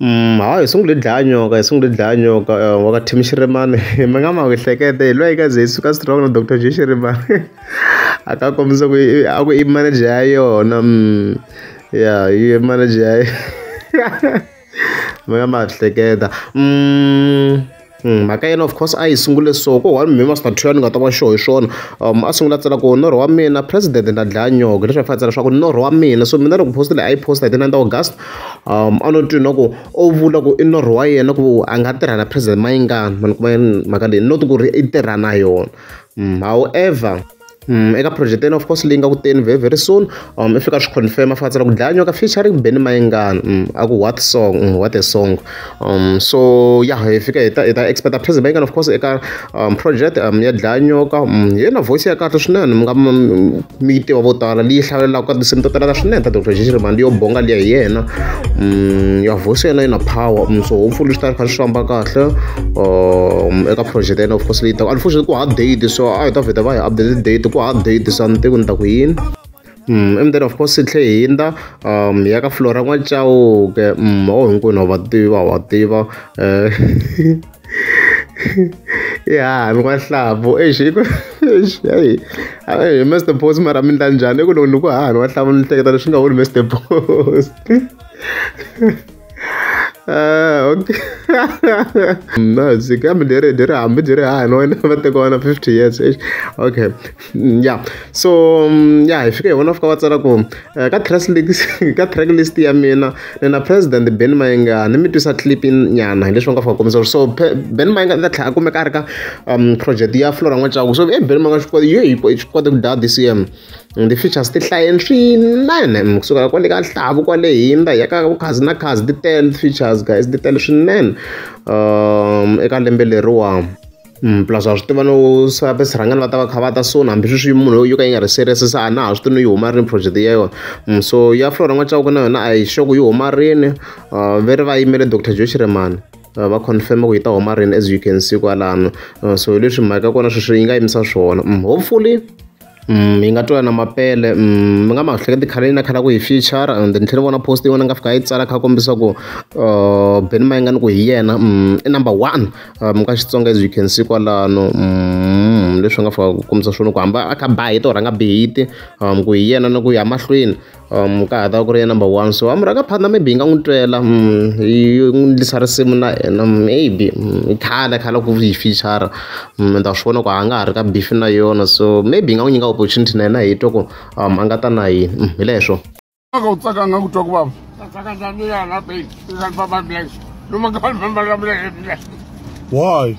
Hayi hi sungule hi dlaya nyoka hi sungule hi dlaya nyoka wa ka team xirhemani mi nga ma ehleketa hi lweyi ka ze hi suka strong na doctor J xirhemani a ka kombisa ku i a ku i manager ya yona ya yi manager ya mi nga ma hleketa . mhaka ya yena of course a yi sungule so ko one me must two ni nga ta va sure hi swona um a sungula tsela ku norho wa mina president na dlaya nyoko leswi a fanele tsela leswaku norho wa mina so mina loko post leyi a yi posta hi ti nine ta august um a no twi na ku o vula ku i norho wa yena ku a nga tirha na president mayingani mani kuma mhaka leyi not ku ri i tirha na yona however eka project ene of course leyi nga ku teni very very soon um i fika swi confirm fa tsala ku dlaya nyoka featuring Benny Mayengani um a ku what song um, what a song um so ya hi fika hi ta hi ta expect a President Mayengani of course eka um project um ya dlaya nyoka um yena voice ya kahle swinene mi nga mi yi tiva vo tala leyi hlalelaka ka tinsimu to talaka swinene ta Dr. Jiji Rimandi yo bonga liya hi yena um ya voice yena yi na power um so hopefully swi ta kha swi famba kahle um eka project ya of course leyi taka unfortunately ku ha date so a hi ta vheta va hi update date ku ha date sa ni tiku ni ta ku yini Mm, and then of course tlhe hinda um ya ka flora n'wacawuke um o hinkwenu wa va tiva wa tiva um ya mi n'wahlavu exi i ku exi hayi hayi mr boss mara mi ndla njhani i ku loko ni ku hahani n'wahlavu ni hleketa leswi nga wuni mr boss Ah, okay. no, byi kambe leri byi ri hambi byi ri haha ni wena va teka wena 50 years eish okay ya so mm, ya hi fika hi vona fika va tsala ku eh, ka track list ka track list ya mina ni na president Ben Mayengani ni mi twisa clip nyana hi leswi va nga fika kombisa so pe- Ben Mayengani ta tlhela a kumeka a ri ka um, project ya Flora N'wacaku so eh Ben Mayengani swi kota yo hi ko- swi kota ku daya DCM And ti-features ti hlayeni swinene kusukela kwale ka nhlavu kwale hindza hi ya ka vukhadzi na khadzi ti tele ti-features guys ti tele swinene eka lembe leriwani. Plus wa swi tiva no swa va swirhangana va ta va kha va ta soon hambi sweswi munhu loyi yo ka yi nga ri serious se a na ha swi tivi no yi huma rini project ya yona so ya Flora N'wa-Chauke na yona a hi sure ku yi huma rini ve ri va yimele Doctor Joe Chiremani va confirm ku yi ta huma rini as you can see kwalano so hi leswi mhaka ya kona sweswi yi nga yimisa swona hopefully. yi nga twala na mapele mi nga ma hleketi khale na khale a ku hi feature and ni tlhela ni vona post yin'wana ni nga fika yi tsala kha kombisa ku Benny Mayengani ku hi yena i number one mi ka Xitsonga as you can see kwalano leswi nga fika ku kombisa swona ku hamba a kha ba hi to rhanga bihiti ku hi yena ni ku ya mahlweni. Um ka ha ta va ku ri ya number one so a murhangaphatsa maybe hi nga n'wi twela hi n'wi endlisa risimu na hina maybe i khale khale ku yi feature-a ni ta swi vona ku a nga ha ri ka beef na yona so maybe hi nga n'wi nyika opportunity na yena hi twa ku a nga ta na yini hi leswo aka u tsaka nga ku twa ku vava why